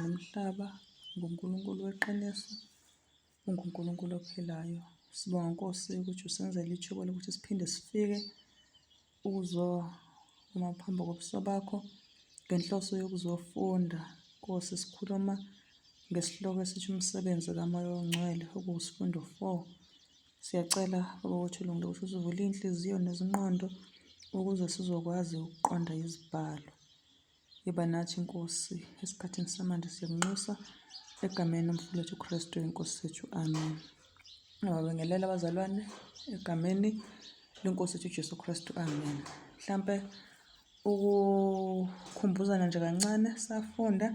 Nomhlaba, nguNkulunkulu weqiniso, unguNkulunkulu ophilayo. Sibonga Nkosi ukuthi usenzele ithuba lokuthi siphinde sifike ukuzokuma phambi kobuso bakho ngenhloso yokuzofunda. Nkosi sikhuluma ngesihloko esithi umsebenzi kamoya ongcwele okuwusifundo 4. Siyacela Baba wethu ulungile ukuthi usivule iy'nhliziyo nezinqondo ukuze sizokwazi ukuqonda izibhalo. Iba nathi inkosi esikhathini samanje siyakunxusa egameni lomfowethu uKristu inkosi sethu amen ngababingelela abazalwane egameni lenkosi ethu uJesu Kristu amen mhlambe ukukhumbuzana nje kancane safunda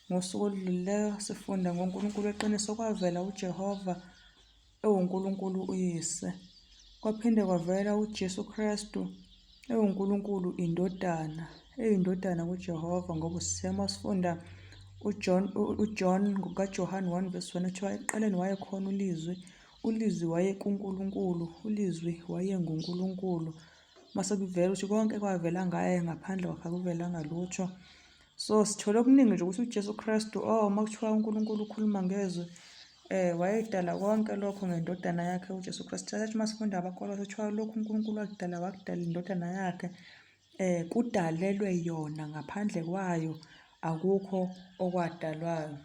ngosuku oludlulileyo sifunda ngoNkulunkulu weqiniso kwavela uJehova ewuNkulunkulu uYise, kwaphinde kwavela uJesu Kristu ewuNkulunkulu iNdodana, eyiNdodana kuJehova ngoba usisema sifunda uJohn uJohn ngokaJohane 1 verse 1 kuthiwa ekuqaleni wayekhona uLizwi, uLizwi wayekuNkulunkulu, uLizwi wayenguNkulunkulu. Mase kuvela ukuthi konke kwavela ngaye ngaphandle kwakhe akuvelanga lutho. so sithole okuningi nje ukuthi uJesu Kristu oh uma kuthiwa uNkulunkulu ukhuluma ngezwe eh wayedala konke lokho ngendodana yakhe uJesu Kristu thatha uma sifunda abakholwa sithiwa lokhu uNkulunkulu wakudala wakudala indodana yakhe eh kudalelwe yona ngaphandle kwayo akukho okwadalwayo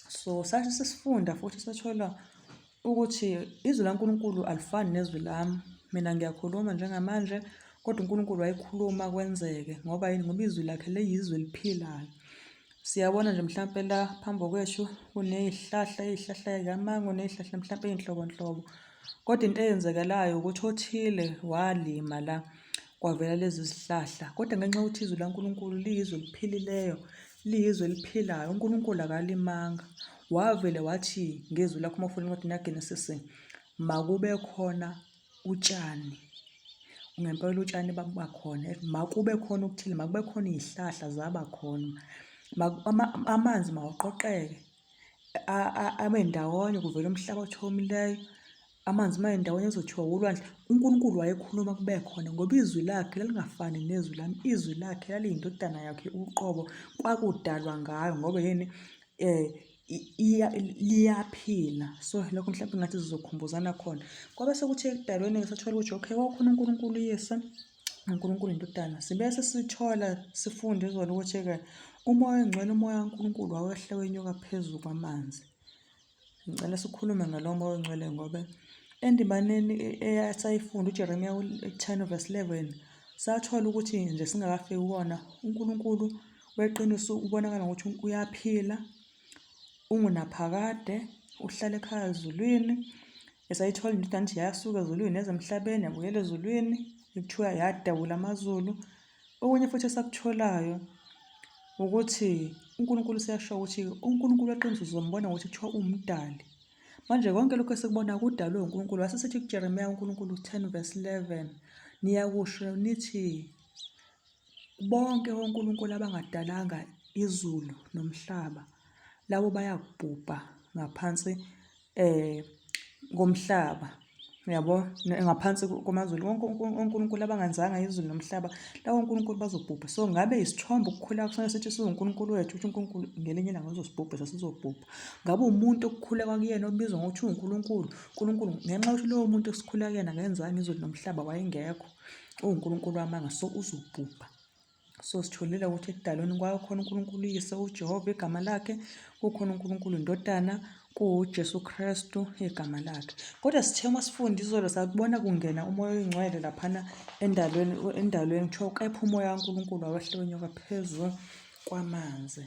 so sathi sisifunda futhi sathola Ukuthi izwi laNkulunkulu alifani nezwi lami. Mina ngiyakhuluma njengamanje kodwa uNkulunkulu wayekhuluma kwenzeke ngoba yini ngoba izwi lakhe leyizwi eliphilayo. Siyabona nje mhlampe la phambi kwethu kunezihlahla, izihlahla zikamango nezihlahla mhlampe izinhlobonhlobo. Kodwa into eyenzekalayo ukuthi othile walima la kwavela lezi zihlahla. Kodwa ngenxa yokuthi izwi laNkulunkulu liyizwi eliphilileyo, liyizwe eliphilayo uNkulunkulu akalimanga wavele wathi ngezwi lakho uma ufuna incwadi yaGenesis makube khona utshani ngempela utshani bakhona makube khona okuthile makube khona izihlahla zaba khona amanzi mawaqoqeke abe ndawonye kuvele umhlaba othomileyo amanzi uma endawonye ezothiwa wolwandle uNkulunkulu wayekhuluma kube khona ngoba izwi lakhe lalingafani nezwi lami izwi lakhe laliyindodana yakhe uqobo kwakudalwa ngayo ngoba yini eh liyaphila so lokho mhlawumbe ngathi sizokhumbuzana khona kwabe sekuthi ekudalweni-ke sathola ukuthi okay kwakukhona uNkulunkulu uyise uNkulunkulu indodana sibese sithola sifunde izolo ukuthi-ke umoya ongcwele umoya kaNkulunkulu wawehle wenyuka phezu kwamanzi ngicela sikhulume ngalo moya ongcwele ngoba endibaneni esayifunda ujeremiya 10 verse 11 sathola ukuthi nje singakafiki kuwona unkulunkulu weqiniso ubonakala ngokuthi uyaphila ungunaphakade uhlala ekhaya ezulwini esayithola into kanti yasuka ezulwini ezemhlabeni yabuyela ezulwini kuthiwa yadabula amazulu okunye futhi esakutholayo ukuthi uNkulunkulu siyasho ukuthi uNkulunkulu weqiniso uzombona ukuthi kuthiwa umdali manje konke lokho esikubona kudalwe uNkulunkulu wase sithi kuJeremiya uNkulunkulu 10 verse 11 niyakusho nithi Bonke onkulunkulu abangadalanga izulu nomhlaba labo bayakubhubha ngaphansi eh komhlaba yabo ngaphansi komazulu wonke uNkulunkulu abangenzanga izulu nomhlaba lawo uNkulunkulu bazobhubha so ngabe isithombe ukukhula kusona sithi siwuNkulunkulu wethu ukuthi uNkulunkulu ngelinye ilanga uzosibhubha sasizobhubha ngabe umuntu okukhula kwakuyena obizwa ngokuthi uNkulunkulu uNkulunkulu ngenxa yokuthi lowo muntu esikhula kuyena ngenzanga izulu nomhlaba wayengekho uwunkulunkulu wamanga so uzobhubha so sitholile ukuthi ekudalweni kwayo khona unkulunkulu uyise ujehova igama lakhe kukhona unkulunkulu indodana kuwujesu kristu igama lakhe kodwa sithe uma sifunda izolo sakubona kungena umoya oyingcwele laphana endalweni endalweni kuthiwa kepha umoya kankulunkulu awehle wenyoka phezu kwamanzi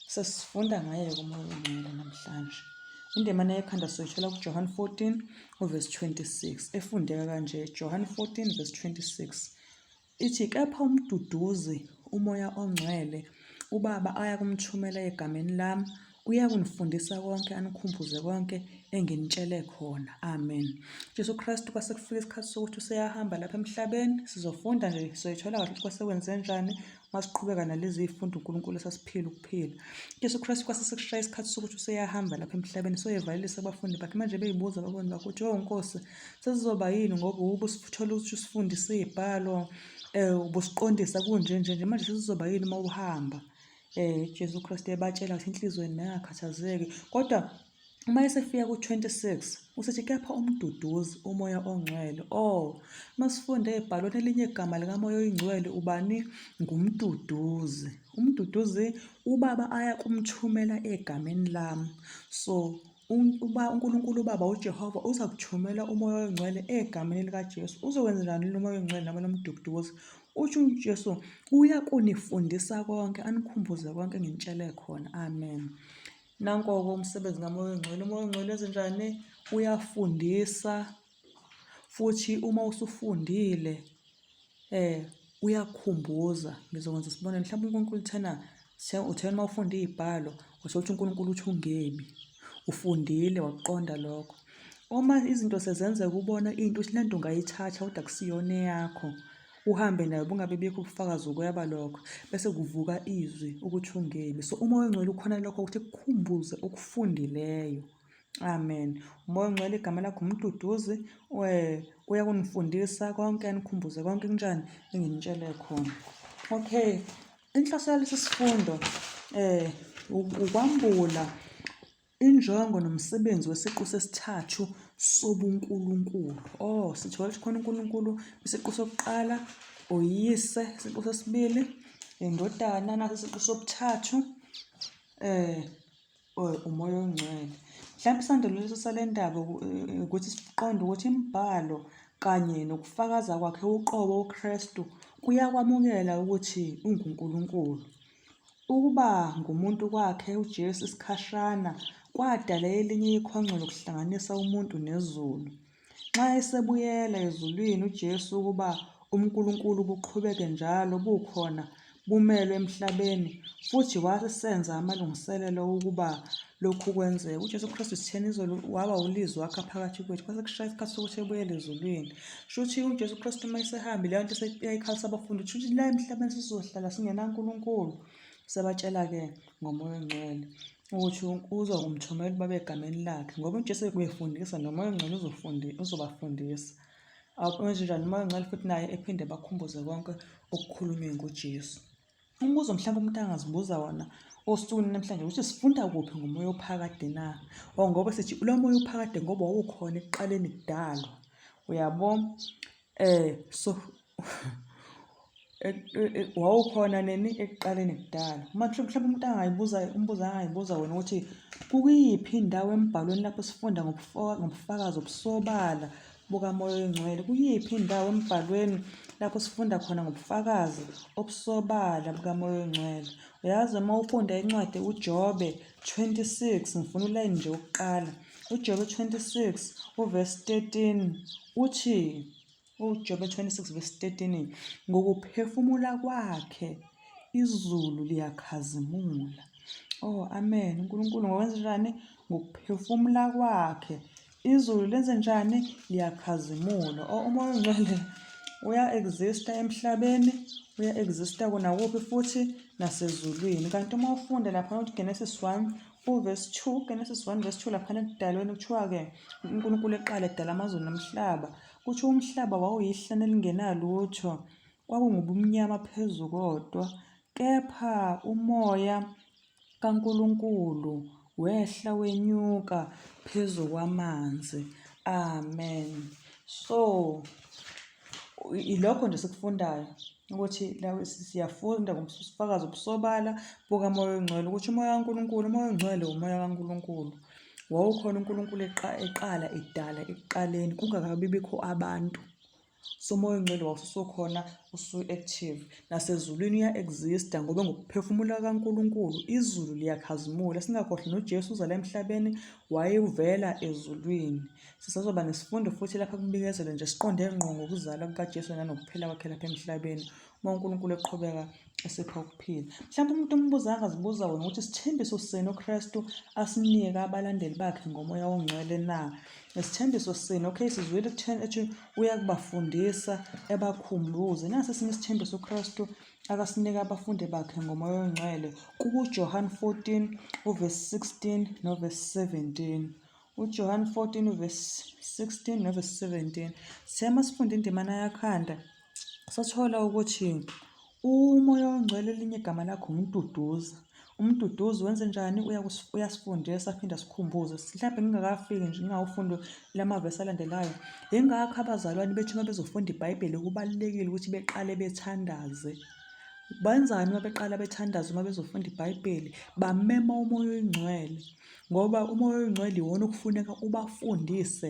Sesifunda ngaye kumoya ongcwele namhlanje. Indemane yekhanda soyithola kuJohane 14 uvesi 26 efundeka kanje Johane 14 vesi 26 ithi kepha umduduzi umoya ongcwele ubaba ayakumthumela egameni lami uyakunifundisa konke anikhumbuze konke enginitshele khona amen jesu kristu kwase kufika isikhathi sokuthi useyahamba lapha emhlabeni sizofunda nje soyithola kahle ukuthi kwase kwenze njani Masiqhubeka nalezi zifundo uNkulunkulu esasiphila ukuphila. Jesu Kristu kwase sekushaya isikhathi sokuthi useyahamba lapha emhlabeni soyevalelisa abafundi bakhe manje beyibuza abafundi bakhe ukuthi oh Nkosi sesizoba yini ngoba ubusithola ukuthi usifundise izibhalo eh ubusiqondisa kunje nje nje manje sesizoba yini uma uhamba eh Jesu Kristu ebatshela ukuthi inhlizweni nengakhathazeki kodwa Uma esefika ku-26 usethi kepha umduduzi umoya ongcwele. O, oh, masifunde ebhalweni elinye igama likamoya oyingcwele ubani? Ngumduduzi. Umduduzi ubaba aya kumthumela egameni lami. So uba uNkulunkulu uBaba uJehova uza kuthumela umoya oyingcwele egameni likaJesu. Uzokwenzelani lo moya oyingcwele noma lo mduduzi? Utsho uJesu uya kunifundisa konke anikhumbuze konke nginitshele khona. Amen. Nanko-ke umsebenzi kaMoya oNgcwele. UMoya oNgcwele ezenjani? Uyafundisa futhi uma usufundile eh uyakukhumbuza ngizokwenza isibonelo mhlawumbe uNkulunkulu uthena uthena uma ufunda iy'bhalo uthole ukuthi uNkulunkulu uthi ungebi ufundile wakuqonda lokho uma izinto sezenzeka ubona into uthi le nto ungayithatha kodwa kusiyona eyakho uhambe nayo bungabe bikho ubufakazi ukweba lokho bese kuvuka izwi ukuthi ungemi so umoya ongcwele ukhona lokho ukuthi kukhumbuze okufundileyo amen umoya ongcwele igama lakho umduduzi eh, uya kunifundisa konke anikhumbuze konke kunjani enginitshele khona okay inhloso yalesi sifundo um ukwambula Injongo nomsebenzi wesiqu sesithathu sobunkulunkulu. Oh, sithola ukuthi khona uNkulunkulu isiqu sokuqala, oyise isiqu sesibili, indodana naso isiqu sobuthathu, eh oh, umoya ongcwele. Mhlawumbe isandelo leso sale ndaba eh, ukuthi siqonde ukuthi imibhalo kanye nokufakaza kwakhe uqobo uKristu kuyakwamukela ukuthi unguNkulunkulu. Ukuba ngumuntu kwakhe uJesu isikhashana kwadala elinye ikhongco lokuhlanganisa umuntu nezulu. Nxa esebuyela ezulwini uJesu ukuba uNkulunkulu buqhubeke njalo bukhona bumelwe emhlabeni futhi wasenza amalungiselelo ukuba lokhu kwenzeke. UJesu Kristu sitheni izolo waba uLizwi wakha phakathi kwethu kwase kushaya isikhathi sokuthi ebuyele ezulwini. Shuthi uJesu Kristu uma esehambi leyo nto eyayikhalisa abafundi shuthi la emhlabeni sizohlala singenaNkulunkulu sebatshela-ke ngomoya ongcwele ukuthi uza kumthumela ubaba egameni lakhe ngoba uJesu bekubefundisa nomoya ongcwele uzobafundisa awenzenjani umoya ongcwele futhi naye ephinde bakhumbuze konke okukhulunywe nguJesu. Umbuzo mhlawumbe umuntu angazibuza wona osukwini namhlanje ukuthi sifunda kuphi ngomoya ophakade na or ngoba sithi lo moya uphakade ngoba wawukhona ekuqaleni kudalwa uyabo eh so wawukhona nini ekuqaleni kudala uma mhlawumbe umuntu angayibuza umbuzo angayibuza wona ukuthi kuyiphi indawo embhalweni lapho sifunda ngobufakazi obusobala bukamoya oyingcwele kuyiphi indawo embhalweni lapho sifunda khona ngobufakazi obusobala bukamoya oyingcwele uyazi uma ufunda incwadi ujobe 26 ngifuna ulayini nje ukuqala ujobe 26 uvesi 13 uthi ujobe 26 vesi 13 ngokuphefumula kwakhe izulu liyakhazimula oh amen unkulunkulu ngokwenzenjani ngokuphefumula kwakhe Izulu lenzenjani? Liyakhazimula. O umoya ongcwele uya-exista emhlabeni, uya-exista kona kuphi futhi nasezulwini. Kanti uma ufunda lapha ukuthi Genesis 1 uverse 2, Genesis 1 verse 2 laphana ekudalweni kuthiwa-ke uNkulunkulu eqala edala amazulu nomhlaba. Kutho umhlaba wawuyihlane elingenalutho, kwakungubumnyama phezu kodwa, kepha umoya kaNkulunkulu wehla wenyuka phezu kwamanzi. Amen. So ilokho nje sikufundayo ukuthi siyafunda ngobufakazi obusobala bukamoya ongcwele ukuthi umoya kaNkulunkulu umoya ongcwele umoya kaNkulunkulu wawukhona uNkulunkulu eqala edala ekuqaleni kungakabi bikho abantu so umoya ongcwele wawususokhona usu-active nasezulwini uya-exista ngoba ngokuphefumula kankulunkulu izulu liyakhazimula singakhohlwa nojesu uzala emhlabeni wayevela ezulwini sisazoba nesifundo futhi lapha kubikezelwe nje siqonde ngqo ngokuzala kukajesu nanokuphila kwakhe lapha emhlabeni uma unkulunkulu eqhubeka esipha ukuphila mhlawumbe umuntu ombuza angazibuza wena ukuthi isithembiso sini uKristu asinika abalandeli bakhe ngomoya ongcwele na isithembiso sini okay sizwile ekutheni ethi uyakubafundisa ebakhumbuze nasi esinye isithembiso uKristu akasinika abafundi bakhe ngomoya ongcwele kuJohn 14 uverse 16 noverse 17 uJohn 14 uverse 16 noverse 17 siyama sifunda indimana yakhanda sathola ukuthi umoya ongcwele elinye igama lakho nguMduduzi. UMduduzi wenze njani? Uyasifundisa aphinde asikhumbuze. Mhlawumbe ngingakafiki nje ngingawufundi la mavesi alandelayo. Yingakho abazalwane bethu uma bezofunda iBhayibheli kubalulekile ukuthi beqale bethandaze. Benzani uma beqala bethandaza uma bezofunda iBhayibheli? Bamema umoya oyingcwele ngoba umoya oyingcwele iwona okufuneka ubafundise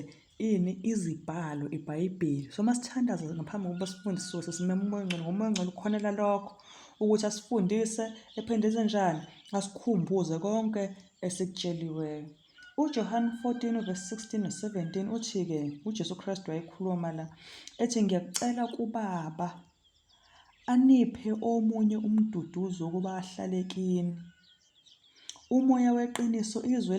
ini izibhalo ibhayibheli so uma sithandaza ngaphambi kokuba sifunde sisuke sesimema umoya ongcwele ngoba umoya ongcwele ukhonela lokho ukuthi asifundise ephinde enze njani asikhumbuze konke esikutsheliweyo uJohane 14 verse 16 no 17 uthi-ke uJesu Kristu wayekhuluma la ethi ngiyakucela kubaba aniphe omunye umduduzi wokuba ahlale kini Umoya weqiniso izwe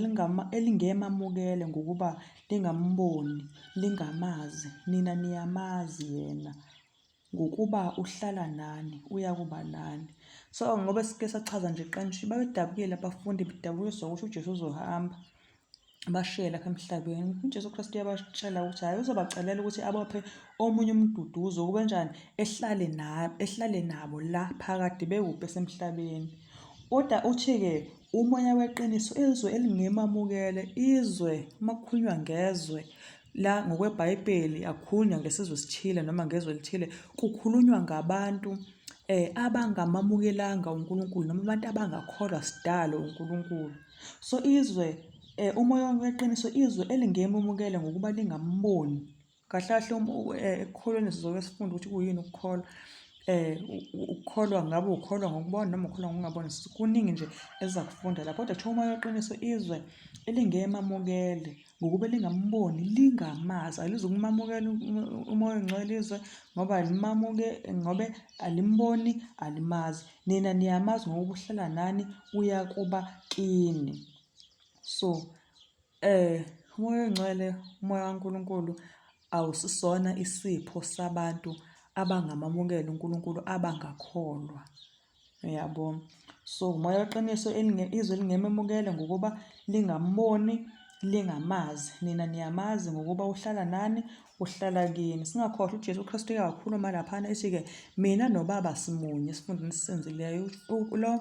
elingemamukele ngokuba lingamboni, lingamazi, nina niyamazi yena ngokuba uhlala nani, uyakuba nani. So ngoba sike sachaza nje qanshi, babedabukile abafundi bedabukiswa ukuthi uJesu uzohamba. bashiye lapha emhlabeni uJesu Kristu uyabatshela ukuthi hhayi uzobacelela ukuthi abophe omunye umduduzo kube njani ehlale nabo ehlale nabo la phakade bewuphe esemhlabeni kodwa uthi-ke umoya weqiniso izwe elingemamukele izwe uma kukhulunywa ngezwe la ngokwebhayibheli akukhulunywa ngesizwe esithile noma ngezwe elithile kukhulunywa ngabantu um abangamamukelanga unkulunkulu noma abantu abangakholwa sidalo unkulunkulu So izwe eh, umoya weqiniso izwe elingemumukele ngokuba lingamboni kahle kahle um, eh, ekukholweni sizoke sifunde ukuthi kuyini ukukholwa eh ukukholwa ngabe ukholwa ngokubona noma ukholwa ngokungabona kuningi nje ezakufunda la kodwa kuthiwa umoya weqiniso izwe elingemamukele ngokuba lingamboni lingamazi alizukumamukela umoya ongcwelizwe ngoba alimamuke ngobe alimboni alimazi nina niyamazi ngokuba uhlala nani uyakuba kini so eh umoya ongcwele umoya kaNkuluNkulu awusisona isipho sabantu abangamamukela uNkuluNkulu abangakholwa Uyabo. So umoya weqiniso izwe lingememukele ngokuba lingamboni, lingamazi. Nina niyamazi ngokuba uhlala nani, uhlala kini. Singakhohlwa uJesu Kristu uyawakhuluma laphana ethi-ke mina noBaba simunye esifundweni esisenzileyo. Lo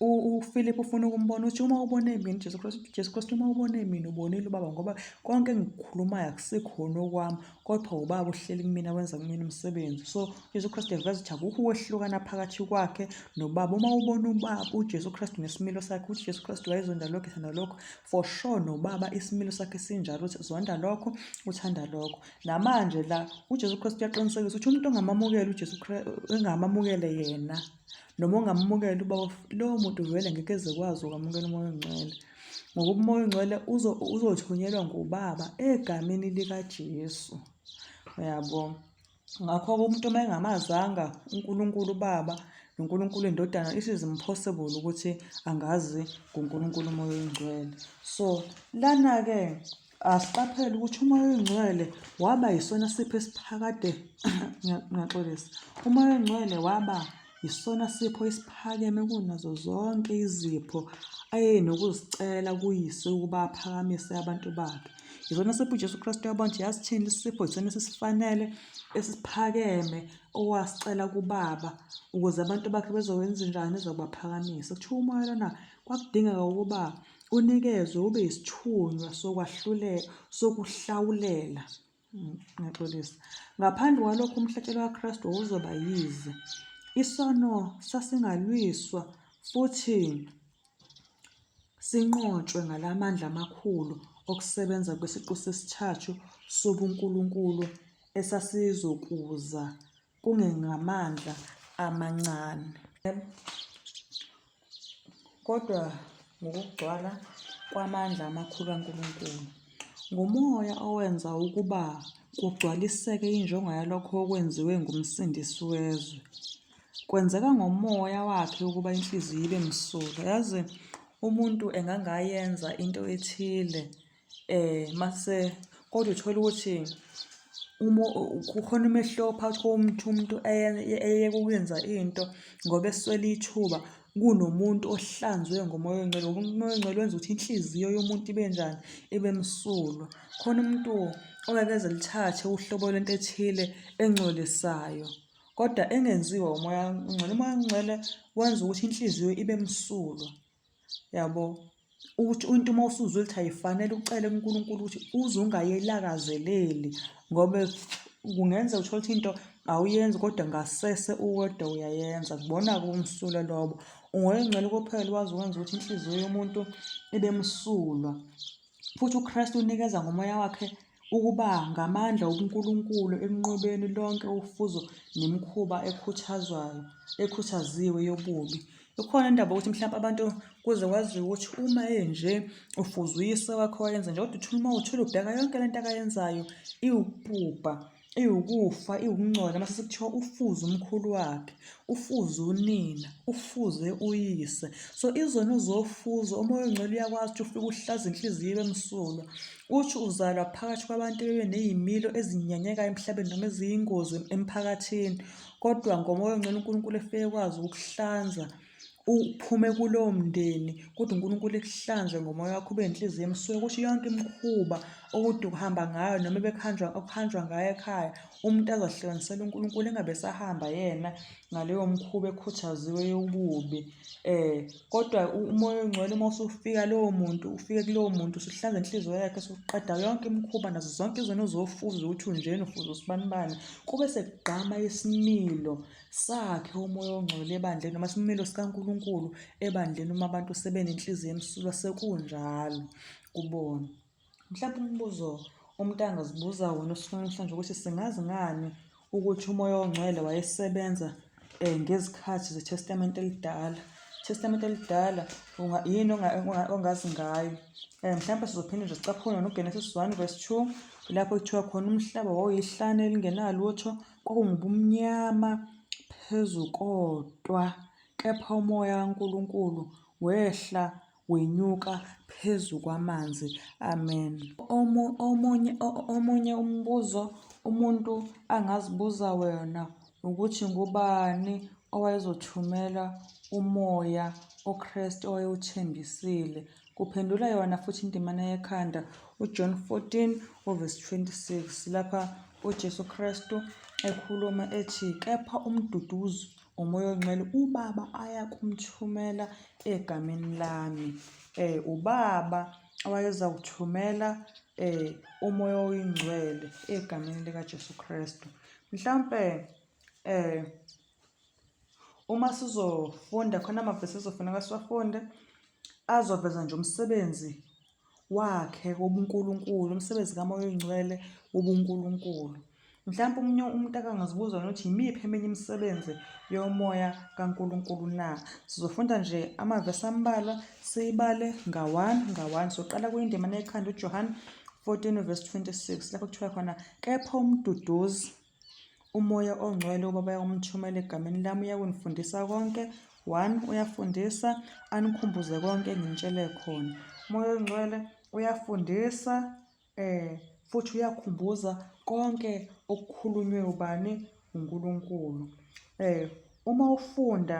uFilip ufuna ukumbona uthi uma ubone mina uJesu Kristu, uJesu Kristu uma ubone mina ubonile uBaba ngoba konke engikukhulumayo akusikhona okwami kodwa ubaba uhleli kumina wenza kumina umsebenzi so ujesu kristu eveza ukuthi akukho ukwehlukana phakathi kwakhe nobaba uma ubona ubaba ujesu kristu nesimilo sakhe ukuthi ujesu kristu wayezonda lokho ethanda lokho for sure nobaba isimilo sakhe sinjalo ukuthi zonda lokho uthanda lokho namanje la ujesu kristu uyaqinisekisa ukuthi umuntu ongamamukeli ujesu engamamukele yena noma ungamumukela uba lowo muntu vele ngeke ezekwazi ukwamukela umoya ongcwele ngoba umoya ongcwele uzothunyelwa ngubaba egameni likajesu uyabo ngakho-ke umuntu uma engamazanga unkulunkulu ubaba noNkulunkulu indodana it is impossible ukuthi angazi ngoNkulunkulu umoya oyingcwele so lana-ke Asiqaphele ukuthi umoya oyingcwele waba yisona sipho esiphakade ngiyaxolisa. Umoya oyingcwele waba yisona sipho esiphakeme kunazo zonke izipho ayenokuzicela kuyise ukuba aphakamise abantu bakhe. Yisona sipho uJesu Kristu yabo nje yasithini isipho yisona esisifanele esiphakeme owasicela kubaba ukuze abantu bakhe bezowenza njani ezokubaphakamisa. Kuthiwa umoya lona kwakudingeka ukuba unikezwe ube yisithunywa sokwahlulela sokuhlawulela mm, ngiyaxolisa ngaphandle kwalokho umhlatshelo kaKristu wawuzoba yize isono sasingalwiswa futhi sinqotshwe ngalamandla amakhulu okusebenza kwesiqu sesithathu sobunkulunkulu esasizokuza kungengamandla amancane kodwa ngokugcwala kwamandla amakhulu kaNkulunkulu. Ngumoya owenza ukuba kugcwaliseke injongo yalokho okwenziwe nguMsindisi wezwe. Kwenzeka ngomoya wakhe ukuba inhliziyo ibe msulwa. Yazi umuntu engangayenza into ethile eh mase kodwa uthola ukuthi uma kukhona umehluko phakathi komuntu umuntu eyeke ukwenza into ngoba eswele ithuba kunomuntu ohlanzwe ngomoya ongcwele ngoba umoya ongcwele wenza ukuthi inhliziyo yomuntu ibe njani ibe msulwa khona umuntu ongeke eze lithathe uhlobo lento ethile engcolisayo kodwa engenziwa umoya ongcwele umoya ongcwele wenza ukuthi inhliziyo ibe msulwa yabo ukuthi umuntu uma usuzwa ukuthi ayifanele ucele kuNkulunkulu ukuthi uze ungayelakazeleli ngoba kungenza uthole ukuthi into awuyenzi kodwa ngasese uwedwa uyayenza kubona kumsulwa lobo ungoyengcela kophela wazi ukwenza ukuthi inhliziyo yomuntu ibe msulwa Futhi uKristu unikeza ngomoya wakhe ukuba ngamandla obuNkulunkulu ekunqobeni lonke ufuzo nemikhuba ekhuthazwayo ekhuthaziwe yobubi. Ikhona indaba ukuthi mhlawumbe abantu kuze kwaziwe ukuthi uma enje ufuzuyise wakhe wayenza nje kodwa uthula uma uthula ubheka yonke le nto akayenzayo iwupubha. iwukufa iwukungcola mase sekuthiwa ufuze umkhulu wakhe ufuze unina ufuze uyise so izona uzofuza umoya ongcwele uyakwazi ukuthi ufike uhlaza inhliziyo ibe msulwa uthi uzalwa phakathi kwabantu bebe nezimilo ezinyanyekayo emhlabeni noma eziyingozi emphakathini kodwa ngomoya ongcwele uNkulunkulu efike ekwazi ukukuhlanza uphume kulowo mndeni kodwa uNkulunkulu ekuhlanze ngomoya wakho ube nenhliziyo emsuke kusho yonke imikhuba okude ukuhamba ngayo noma ebekuhanjwa okuhanjwa ngayo ekhaya umuntu azohlukanisela uNkulunkulu engabe sahamba yena ngaleyo mkhuba ekhuthaziwe yobubi eh kodwa umoya ongcwele uma usufika lowo muntu ufike kulowo muntu usuhlanza inhliziyo yakhe usuqeda yonke imikhuba nazo zonke izinto ozofuza ukuthi unjena ufuza usibanibani kube sekugqama isimilo Sakhe umoya ongcwele ebandleni noma isimilo sikaNkulunkulu ebandleni uma abantu sebenenhliziyo emsulwa sekunjalo kubona. Mhlawumbe umbuzo umuntu angazibuza wona osukwini namhlanje ukuthi singazi ngani ukuthi umoya ongcwele wayesebenza um ngezikhathi zeTestamente Elidala. Testamente elidala yini ongazi ngayo um mhlawumpe sizophinde nje sicaphune nogenesis one verse two lapho kuthiwa khona umhlaba wawuyihlane elingenalutho Kwakungubumnyama phezu kodwa, kepha uMoya kaNkulunkulu wehla wenyuka phezu kwamanzi. Amen. Omu, omunye, omunye umbuzo umuntu angazibuza wena ukuthi ngubani owayezothumela umoya oKristu owayewuthembisile. Kuphendula yona futhi indimana yekhanda uJohn 14 uvesi 26 lapha uJesu Kristu ekhuluma ethi kepha umduduzi umoya ongcwele ubaba ayakumthumela egameni lami eh ubaba wayeza kuthumela eh umoya oyingcwele egameni likaJesu Kristu mhlambe eh uma sizofunda khona amavesi ezofuneka siwafunde azoveza nje umsebenzi wakhe wobunkulunkulu umsebenzi kamoya oyingcwele wobunkulunkulu mhlawumbe omunye umuntu akangazibuza yona ukuthi yimiphi eminye imisebenzi yomoya kaNkulunkulu na sizofunda nje amavesi ambalwa siyibale nga-one nga-one soqala kuyindima nekhanda uJohane 14 verse 26 lapho kuthiwa khona kepha umduduzi Umoya ongcwele ubaba yakumthumela egameni lami uyakunifundisa konke one uyafundisa anikhumbuze konke enginitshele khona umoya ongcwele uyafundisa eh futhi uyakhumbuza konke okukhulunywe ubani uNkulunkulu eh uma ufunda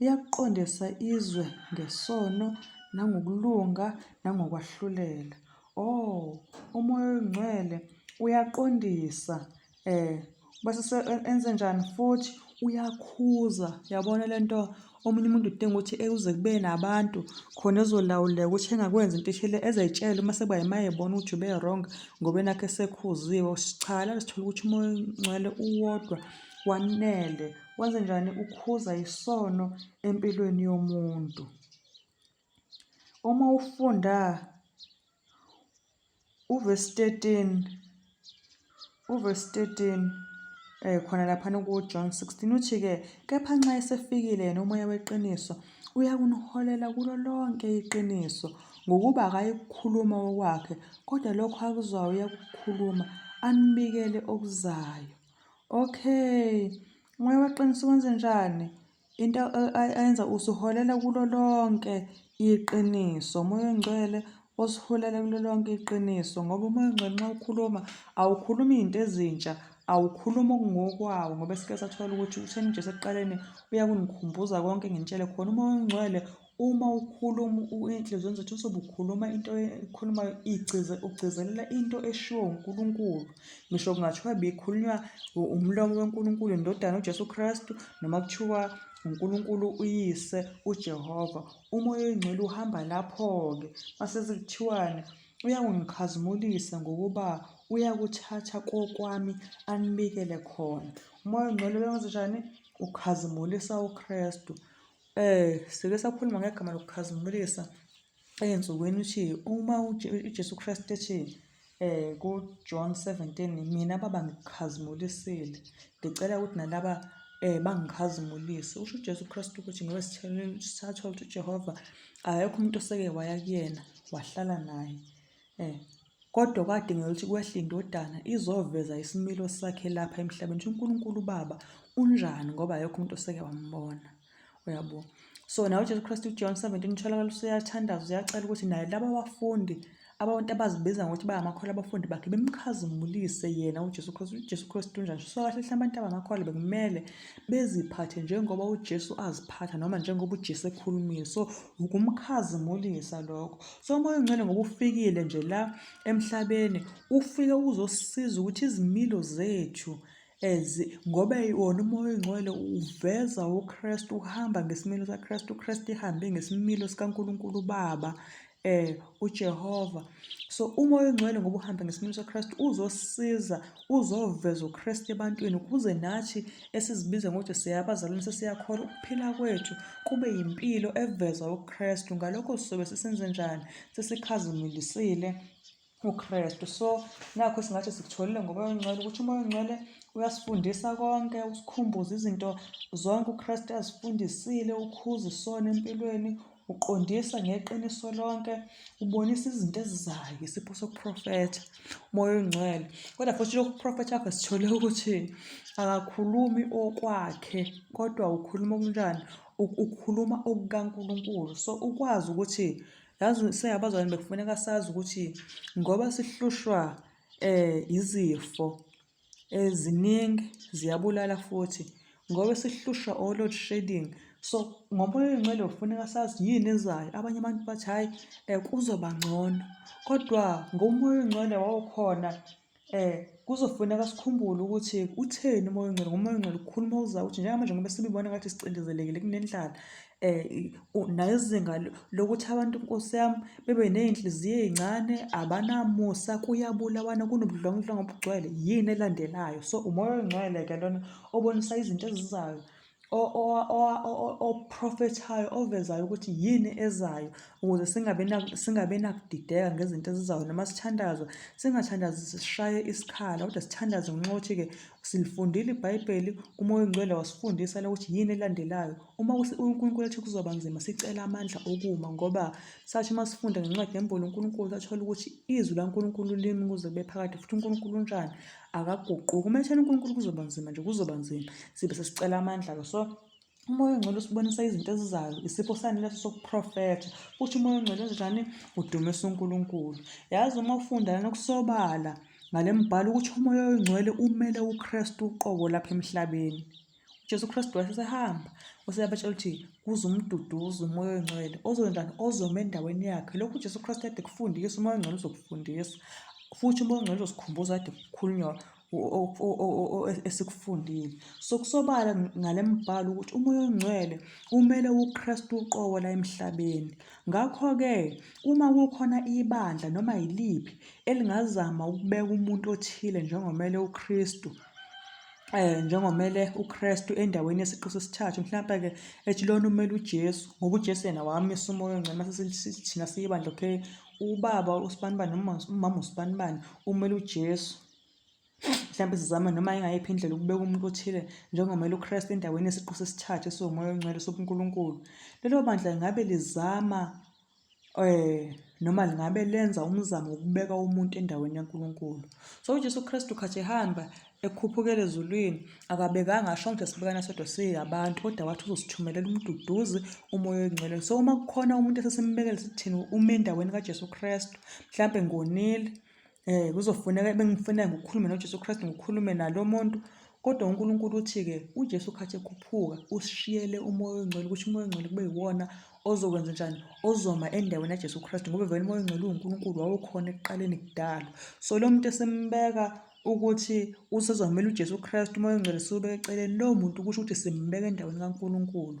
Uyakuqondisa izwe ngesono nangokulunga nangokwahlulela. Oh, uMoya oyiNgcwele uyaqondisa eh basise e-, enze njani futhi uyakhuza yabona lento omunye umuntu udinga ukuthi ekuze kube nabantu khona ezolawuleka ukuthi engakwenza into eshele ezayitshela uma sekuba yimaye ebona ukuthi ube wrong ngoba enakhe sekhuziwe cha la sithola ukuthi umoya ongcwele uwodwa wanele Wenze njani ukhuza isono empilweni yomuntu? Uma ufunda uvesi 13 uvesi 13 eh khona laphana kuJohn 16 uthi-ke kepha nxa esefikile yena umoya weqiniso uyakuniholela kulo lonke iqiniso ngokuba akayikhuluma okwakhe kodwa lokho akuzwayo uyakukhuluma anibikele okuzayo Okay, umoya weqiniso wenze njani? Into ayenza usiholela kulo lonke iqiniso, umoya ongcwele osiholela kulo lonke iqiniso ngoba umoya ongcwele nxa ukhuluma awukhulumi izinto ezintsha awukhulumi okungokwawo ngoba sike sathola ukuthi utheni uJesu ekuqaleni uyakungikhumbuza konke ngintshele khona umoya ongcwele Uma ukhuluma inhliziyo zethu uzobe ukhuluma into ekhulumayo igcize ugcizelela into eshiwo uNkulunkulu. Ngisho kungathiwa bikhulunywa umlomo weNkulunkulu indodana uJesu Kristu noma kuthiwa uNkulunkulu uyise uJehova. Umoya oyingcwele uhamba lapho-ke mase sekuthiwani uyakungikhazimulisa ngokuba uyakuthatha kokwami anibikele khona. Umoya oyingcwele uyenzenjani? Ukhazimulisa uKristu. Eh, sike sakhuluma ngegama lokukhazimulisa ezinsukwini ukuthi uma uJesu Kristu ethi eh kuJohn 17 mina baba ngikukhazimulisile ngicela ukuthi nalaba eh bangikhazimulise usho uJesu Kristu ukuthi ngoba sithathola ukuthi uJehova akekho umuntu oseke waya kuyena wahlala naye Eh, kodwa kwadingeka ukuthi kwehle indodana izoveza isimilo sakhe lapha emhlabeni ukuthi uNkulunkulu uBaba unjani ngoba ayekho umuntu oseke wambona uyabo so nawe uJesu Kristu uJohn 17 utholakala usuyathandaza uyacela ukuthi naye laba bafundi abantu abazibiza ngokuthi bayamakholwa abafundi bakhe bemkhazimulise yena uJesu Kristu uJesu Kristu unjani so kahle hle abantu abamakholwa bekumele beziphathe njengoba uJesu aziphatha noma njengoba uJesu ekhulumile so ukumkhazimulisa lokho so umoya ongcwele ngoba ufikile nje la emhlabeni ufike uzosiza ukuthi izimilo zethu as ngoba wona umoya ongcwele uveza uKristu uhamba ngesimilo saKristu uKristu ihambe ngesimilo sikaNkuluNkulu uBaba eh uJehova so umoya ongcwele ngoba uhamba ngesimilo saKristu uzosiza uzoveza uKristu ebantwini ukuze nathi esizibiza ngokuthi siyabazalwane sesiyakhola ukuphila kwethu kube yimpilo eveza uKristu ngalokho sizobe sisenze njani sesikhazimulisile uKristu so nakho singathi sikutholile ngoba ongcwele ukuthi umoya ongcwele uyasifundisa konke usikhumbuza izinto zonke uKristu azifundisile ukhuza isona empilweni uqondisa ngeqiniso lonke ubonisa izinto ezizayo isipho sokuprofetha umoya ongcwele kodwa futhi lokhu kuprofetha kwakhe sithole ukuthi akakhulumi okwakhe kodwa ukhuluma okunjani ukhuluma okukankulunkulu so ukwazi ukuthi yazi singabazalwane bekufuneka sazi ukuthi ngoba sihlushwa um izifo Ziningi, ziyabulala futhi ngoba sihlushwa o-load shedding. So, ngomoya oyingcwele kufuneka sazi yini ezayo. Abanye abantu bathi hhayi um kuzoba ngcono, kodwa ngomoya oyingcwele wawukhona um kuzofuneka sikhumbule ukuthi utheni umoya oyingcwele. Ngomoya oyingcwele ukhuluma okuzayo ukuthi njengamanje ngoba sibibona ngathi sicindezelekile kunendlala um nezinga lokuthi abantu nkosi yami bebe ney'nhliziyo ey'ncane abanamusa kuyabulawana kunobudlwangudlwangu obugcwele yini elandelayo so umoya oyingcwele-ke lona obonisa izinto ezizayo oprofethayo ovezayo ukuthi yini ezayo ukuze singabe nakudideka ngezinto ezizayo noma sithandazo singathandazi sishaye isikhala kodwa sithandaze ngenxa yokuthi-ke silifundile ibhayibheli umoya oyingcwele wasifundisa lokuthi yini elandelayo Uma uNkulunkulu ethi kuzoba nzima sicela amandla okuma ngoba sathi uma sifunda ngencwadi yembolo uNkulunkulu sathola ukuthi izwi laNkulunkulu limi kuze kube phakade futhi uNkulunkulu unjani akaguquki uma ethena uNkulunkulu kuzoba nzima nje kuzoba nzima sibe sesicela amandla-ke so umoya ongcwele usibonisa izinto ezizayo isipho sani leso sokuprofetha futhi umoya ongcwele njani udumisa uNkulunkulu yazi uma ufunda lana kusobala ngale mbhalo ukuthi umoya oyingcwele umele uKristu uqobo lapha emhlabeni uJesu Kristu wasesehamba waseyabatshela ukuthi kuze umduduzi umoya oyingcwele ozoyenzani ozoma endaweni yakhe lokhu uJesu Kristu ade kufundisa umoya ongcwele uzokufundisa futhi umoya ongcwele uzosikhumbuza ade kukhulunywa esikufundile so kusobala ngale mbhalo ukuthi umoya ongcwele kumele uKristu uqobo la emhlabeni ngakho-ke uma kukhona ibandla noma yiliphi elingazama ukubeka umuntu othile njengomele uKristu eh njengomele uKristu endaweni yesiqu sesithathu mhlawumbe ke ethi lona umele uJesu ngoba uJesu yena wamisa umoya ongcwele mase sithina siyibandla okay ubaba usibanibani noma umama usibanibani umele uJesu mhlawumbe sizama noma ingayiphi indlela ukubeka umuntu othile njengomele uKristu endaweni yesiqu sesithathu esiwumoya ongcwele sobuNkulunkulu lelo bandla ngabe lizama noma lingabe lenza umzamo wokubeka umuntu endaweni yaNkulunkulu. So uJesu Kristu khathi ehamba ekhuphukele ezulwini akabekanga asho ngisho sibekana sodwa siyabantu kodwa wathi uzosithumelela umduduzi umoya oyingcwele. So uma kukhona umuntu esesimbekele sithini ume endaweni kaJesu Kristu mhlampe ngonile. Eh kuzofuneka bengifuneka ngokukhuluma noJesu Kristu ngokukhulume nalo muntu kodwa uNkulunkulu uthi-ke uJesu khathi ekhuphuka usishiyele umoya oyingcwele ukuthi umoya oyingcwele kube yiwona ozokwenza njani ozoma endaweni yaJesu Kristu ngoba vele umoya oyingcwele uwuNkulunkulu wawukhona ekuqaleni kudalo so lo muntu esimbeka ukuthi usezomela uJesu Kristu umoya oyingcwele siwubeke eceleni lowo muntu kusho ukuthi simbeka endaweni kaNkulunkulu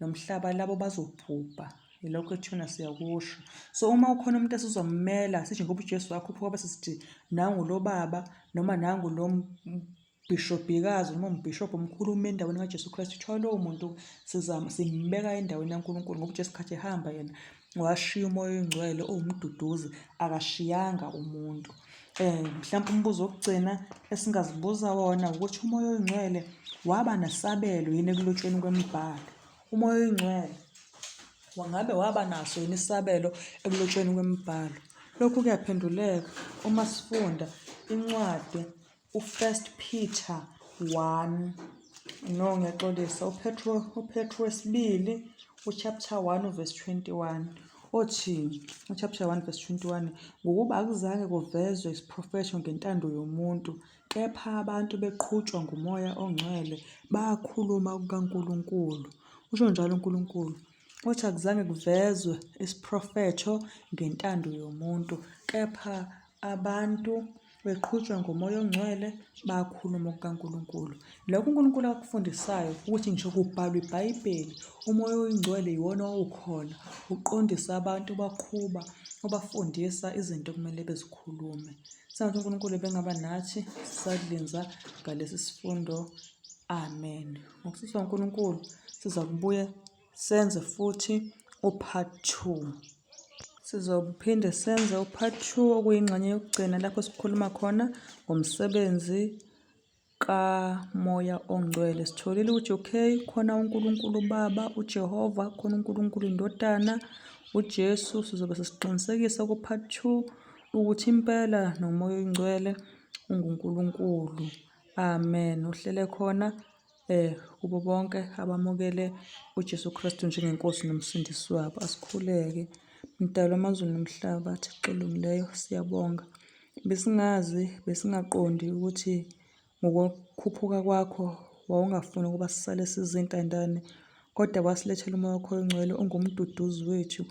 lo mhlaba labo bazobhubha yilokho ethuna siyakusho so uma ukhona umuntu esizommela sisho ngoba uJesu wakho phuma bese sithi nangu lo baba noma nangu lo bishobhikazi noma umbhishobhi omkhulu ume endaweni kaJesu Kristu kuthiwa lowo muntu simbeka endaweni yaNkulunkulu ngoba uJesu khathi ehamba yena washiya umoya oyingcwele uwumduduzi akashiyanga umuntu um mhlawumpe umbuzo wokugcina esingazibuza wona ukuthi umoya oyingcwele waba nesabelo yini ekulotshweni kwemibhalo umoya oyingcwele wangabe waba naso yini isabelo ekulotshweni kwemibhalo lokhu kuyaphenduleka uma sifunda incwadi uFirst Peter 1 no ngiyaxolisa uPetro uPetro wesibili uchapter 1 verse 21 othi uchapter 1 verse 21 ngokuba akuzange kuvezwe isiprofetho ngentando yomuntu kepha abantu beqhutshwa ngumoya ongcwele bakhuluma kukaNkuluNkulu usho njalo uNkuluNkulu uthi akuzange kuvezwe isiprofetho ngentando yomuntu kepha Abantu beqhutshwa ngomoya ongcwele bayakhuluma kukaNkulunkulu. Lokho uNkulunkulu akufundisayo ukuthi ngisho kubhalwa iBhayibheli, umoya oyingcwele yiwona owukhona uqondisa abantu baqhuba ubafundisa izinto okumele bezikhulume. Sengathi uNkulunkulu bengaba nathi sisalinza ngalesi sifundo. Amen. Ngokusizwa uNkulunkulu siza kubuya senze futhi upart two sizophinde senze upart two okuyingxenye yokugcina lapho sikhuluma khona ngomsebenzi kamoya ongcwele sitholile ukuthi okay khona unkulunkulu ubaba ujehova khona unkulunkulu indodana ujesu sizobe sesiqinisekisa kupart two ukuthi impela nomoya oyingcwele ungunkulunkulu amen uhlele khona Eh, kubo bonke abamukele uJesu Kristu njengeNkosi noMsindisi wabo, asikhuleke. Mdali wamazulu nomhlaba, Thixo olungileyo, siyabonga. Besingazi, besingaqondi ukuthi ngokukhuphuka kwakho wawungafuni ukuba sisale sizintandane, kodwa wasilethela umoya wakho ongcwele ungumduduzi wethu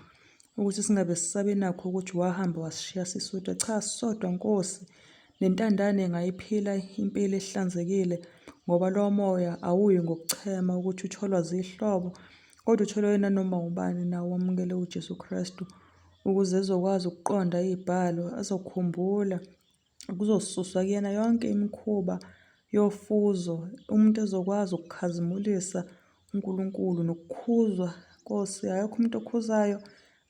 ukuthi singabe sisabe nakho ukuthi wahamba wasishiya sisodwa. Cha, sisodwa Nkosi, Nentandane ingayiphila impilo ehlanzekile ngoba lowo moya awuyi ngokuchema ukuthi utholwa zihlobo kodwa utholwe nanoma ubani nawo wamukele uJesu Kristu ukuze ezokwazi ukuqonda iy'bhalo azokhumbula kuzosuswa kuyena yonke imikhuba yofuzo umuntu ezokwazi ukukhazimulisa uNkulunkulu nokukhuzwa Nkosi akekho umuntu okhuzayo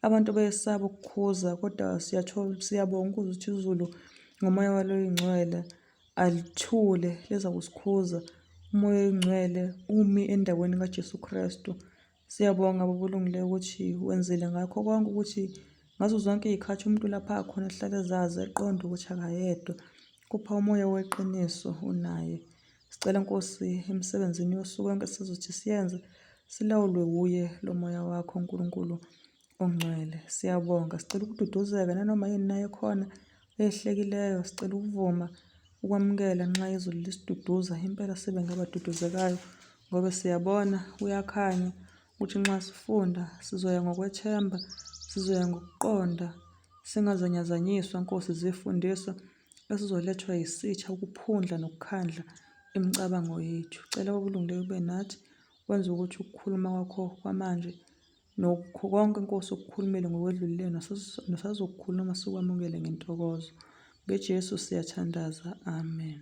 Abantu bayesaba ukukhuza kodwa siyathola siyabonga ukuze ukuthi izulu ngomoya walo ingcwele alithule leza kusikhuza umoya oyingcwele umi endaweni kaJesu Kristu siyabonga baba olungileyo ukuthi wenzile ngakho konke ukuthi ngazo zonke iy'khathi umuntu lapha akhona ahlale ezazi eqonda ukuthi akayedwa kupha umoya weqiniso unaye Sicela Nkosi emsebenzini yosuku lonke sizothi siyenze silawulwe wuye lo moya wakho uNkulunkulu ongcwele. Siyabonga. Sicela ukududuzeka nanoma yini naye khona eyehlekileyo. Sicela ukuvuma ukwamukela nxa izulu lisiduduza. Impela sibe ngabaduduzekayo ngoba siyabona kuyakhanya ukuthi nxa sifunda sizoya ngokwethemba, sizoya ngokuqonda, singazanyazanyiswa Nkosi zifundisa. Si esizolethwa yisitha ukuphundla nokukhandla imicabango yethu. Cela okulungileyo kube nathi wenze ukuthi ukukhuluma kwakho kwamanje nokho konke inkosi okukhulumele ngokwedlulile nosazokukhuluma sikwamukele ngentokozo. NgeJesu siyathandaza. Amen.